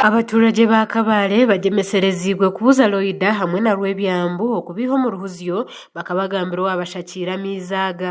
Abaturage ba Kabale bagyemesereziibwe kubuza Loida hamwe na Rwebyambu okubeiha omu ruhuzyo bakaba bagambira owabashakiire amaizi aga.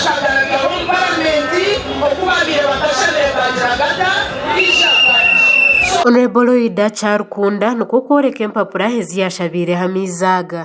Kyagaragaho omu paramenti oku baabaire batashabire baagira gata Isha Badi. Hon Loida Kyarukunda nikwo kworeka empapura ezi yaashabeireho amaizi aga.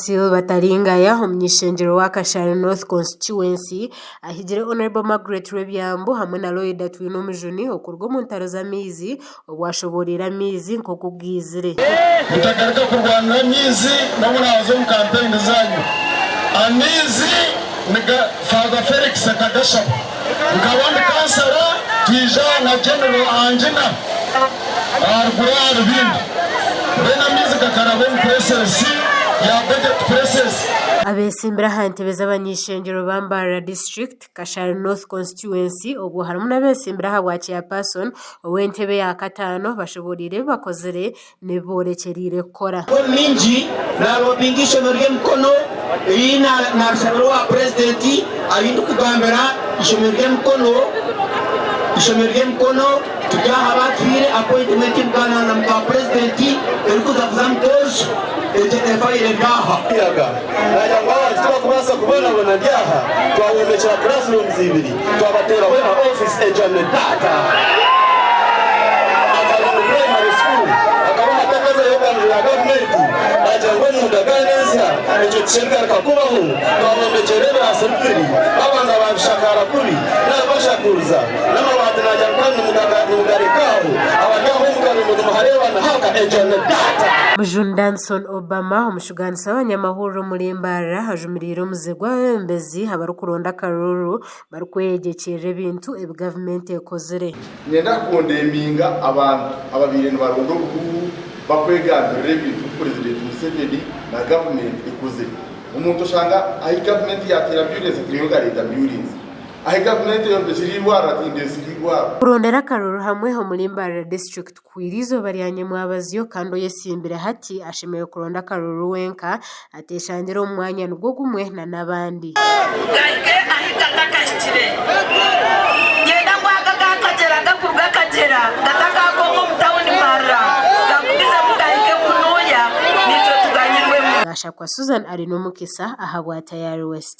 Silver Taringaya omunyeshengyerwa wa Kashari North Constituency ahigire Honourable Margaret Rwebyambu hamwe na Lloyd Atwinomujuni okuruga omu ntaro z'amaizi obu ashoboreire amaizi nk'oku gaizire. Mutagaruka kurwanira amaizi n'obu oraaza omu kampeyini zaanyu. Amaizi niga Father Felix akagashaba. Nkaba ndi kansara twija na General Angina aha ruguru aha rubindi then amaizi gakaraba omu presses ya Budget Presses. Abeesimbire aha ntebe z'abany'eishengyero ba Mbarara District, Kashari North Constituency obwo harimu n'abeesimbire aha bwa Chairperson ow'entebe ya kataano bashoboreire ebi bakozire n'ebi boorekyereire kukora. Paul Mingi naalobinga eishomero ry'e Mukono eriri narishabira owa purezidenti ariyo ndikugambira eishomero ry'e Mukono eishomero ry'e Mukono turi aha baatuhaire appointment kugaanira na muka purezidenti erikuza kuza mu koojo egyo efaire eri aha muyaga naagira ngu abantu tibakubaasa kubonabona ndi aha twahombekire classrooms ibiri Twabateeraho na ofiisi ejwami taata akaba omu puraimari sukuuru akabaho ati akazayo okwangurira aha gavumenti naagira ngu omunda gaana ensya ekyo tikirigaruka kubaho. Twabombekyeire ebiraasi bibiri baabanza baabishakaara kubi nari bashakuriza n'amabaati naagira ngu kandi nimugareka aho abari aho omu karingo nimuhareeba nihaaka ejwami taata. Mujuni Danson Obama. Tugaanisa abanyamahururu omuri Mbarara ajumiriire omuze gw'abebembezi abarikuronda akarururu barikweyegyekyerera ebintu ebi gavumenti ekozire. Niinyenda kukondeminga abantu ababaire nibaronda obuhuuhu bakwegambirira ebintu ebi Purezidenti Museveni na gavumenti ekozire. Omuntu oshanga ahi gavumenti yaateera ambyurensi ati niiwe ogareeta ambyurensi. Ahi gavumenti eyombekire eirwariro ati nindeetsa eirwariro. Kurondera akarururu hamwe omuri Mbarara District. Kuhwera eizooba rya nyamwabazyo kandi oyetsimbire hati ashemereire kuronda akaruru wenka, ateeshangire omu mwanya nigwo gumwe na n'abandi. Gaige ahi gatakahikire. Niinyenda ngu aga gaakagyera gakuruga Kagyera gatakaakooka omu tauni marira gakugizemu gahike kunuuya naitwe tuganyirwemu. Gashakwa Susan ari n'omukisa ahabwa Tayari West.